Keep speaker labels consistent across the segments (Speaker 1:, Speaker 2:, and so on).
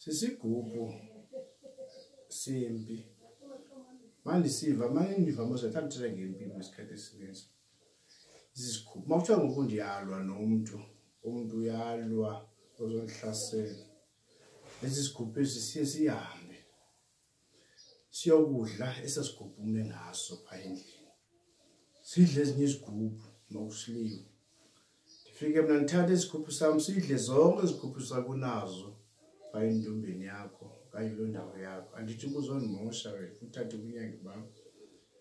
Speaker 1: sisigubhu sempi mandisiva mane ndiva moze thanda uthetha ngempi kwisikhathi esininzi zizikhupha uma kuthiwa ngoku ndiyalwa nomntu umntu uyalwa ozondihlasela esi sikhupha esi siye sihambe siyokudla esasigubhu ume ngaso phaa endlini sidle ezinye izigubhu nokusiliwe ndifike mna ndithatha isigubhu sam sidle zonke izigubhu sakunazo phaa entombeni yakho okanye loo ndawo yakho andithi kuzondimosha wena uthathe kunyange bam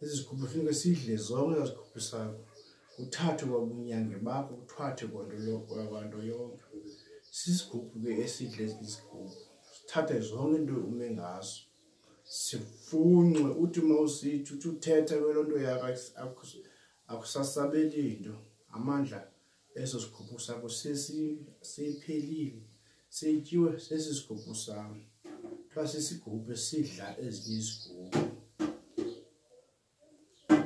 Speaker 1: ezi zigubhu funeka sidle zonke zigubhu sakho kuthathwe kwabunyange bakho kuthathwe kwanto yonke sisigubhu ke esidle izigubhu sithathe zonke into ume ngazo sifunxe uthi uma usithi uthi uthetha kwelo nto yakho akusasabeli nto amandla eso sigubhu sakho sesiphelile sityiwe sesi sigubhu sam kuthiwa sisigubhu esidla ezinye izigubhu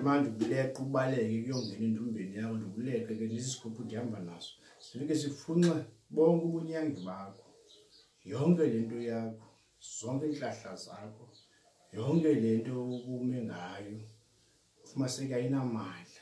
Speaker 1: manje ukuleqa ubaleke kuyongena entumbeni yakho ndikuleqe ke ndisisigubhu ndihamba naso sifike sifunxe bonke ubunyangi bakho yonke le nto yakho zonke iintlahla zakho yonke le nto ubume ngayo ufumaseke ayinamandla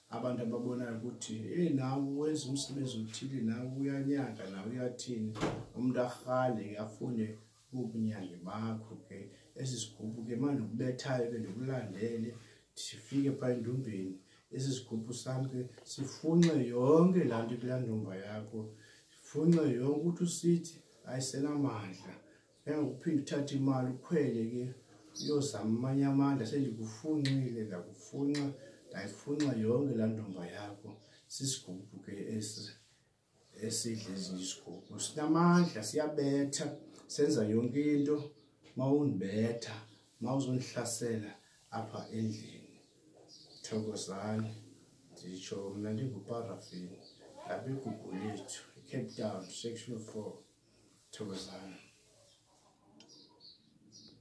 Speaker 1: abantu ababonayo ukuthi e nawe wenza umsebenzi othile nawe uyanyaka nawe uyathini umntu arhale ke afune ubunyange bakho ke esi sigubhu ke manje ukubethayo ke ndikulandele sifike phaa endumbeni esi sigubhu sam ke sifunxe yonke laa nto kulaa ndumba yakho sifunxe yonke ukuthi usithi ayisenamandla Engokuphinde uthathe imali ukhwele ke uyozama amanye amandla sendikufunxile ndakufunxa ndayifunxa yonke laa ntomba yakho sisigubhu ke esi esidla ezinye isigubhu sinamandla siyabetha senza yonke into uma undibetha uma uzondihlasela apha endlini Thokozani, nditsho mna ndinguparafin apha igugulethu icape town section four thokozani